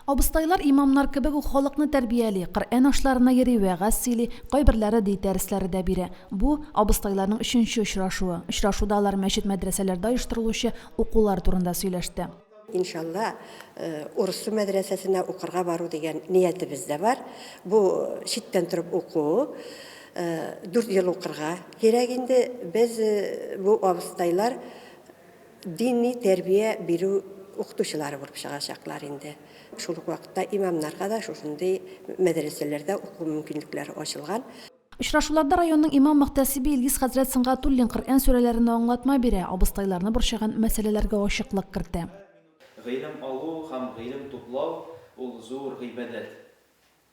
Абыстайлар имамнар кебек үк халыкны тәрбияли, Коръән ашларына йөри, вәгазь сөйли, кайберләре дин дәресләре дә бирә. Бу, абыстайларның өченче очрашуы. Очрашуда алар мәчет-мәдрәсәләрдә оештырылучы укулар турында сөйләште. Иншалла, Урыссу мәдрәсәсенә укырга бару дигән ниятебез дә бар. Бу, читтән торып уку. Дүрт ел укырга кирәк инде. Без, бу абыстайлар, Дини тәрбия бирү укытучылары булып чыгачаклар инде. Шул ук вакытта имамнарга да шушындый мәдрәсәләрдә уку мөмкинлекләре ачылган. Очрашуларда районның имам-мөхтәсибе Илгиз хәзрәт Сөнгатуллин Коръән сүрәләренә аңлатма бирә, абыстайларны борчыган мәсьәләләргә ачыклык кертә. Гыйлем алу һәм гыйлем туплау, ул зур гыйбадәт.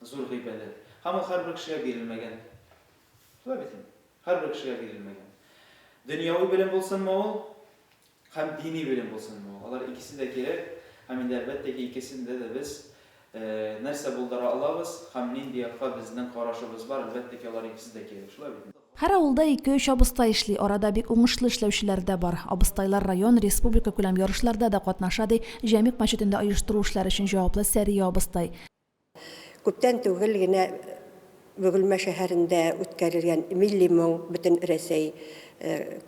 Зур гыйбадәт. Һәм ул һәрбер кешегә бирелмәгән. Шулай бит инде. Һәрбер кешегә бирелмәгән. Дөньяви белем булсынмы ул, һәм дини белем булсынмы ул, алар икесе дә кирәк, һәм инде әлбәттә ки, икесендә дә без нәрсә булдыра алабыз һәм нинди якка безнең карашыбыз бар, әлбәттә ки, алар икесе дә кирәк. Шулай бит инде. Һәр авылда ике-өч абыстай эшли, арада бик уңышлы эшләүчеләр дә бар. Абыстайлар район, республикакүләм ярышларда да катнаша, ди Җәмигъ мәчетендә оештыру эшләре өчен җаваплы Сәрия абыстай. Күптән түгел генә Бөгелмә шәһәрендә үткәрелгән Милли моң Бөтенрәсәй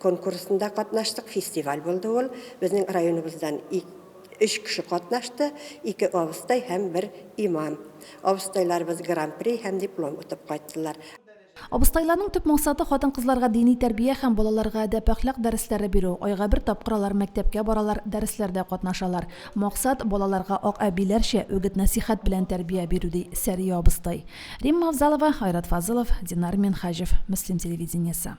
конкурсында катнаштык, фестиваль булды ул. Безнең районыбыздан өч кеше катнашты, ике абыстай һәм бер имам. Абыстайларыбыз гран-при һәм диплом отып кайттылар. Абыстайларның төп максаты, хатын-кызларга дини тәрбия һәм балаларга әдәп-әхлак дәресләре бирү. Айга бер тапкыр алар мәктәпкә баралар, дәресләрдә катнашалар. Максат, балаларга ак әбиләрчә үгет-нәсыйхәт белән тәрбия бирү, ди Сәрия абыстай. Римма Авзалова, Айрат Фазылов, Динар Минһаҗев, Мөслим телевидениесе.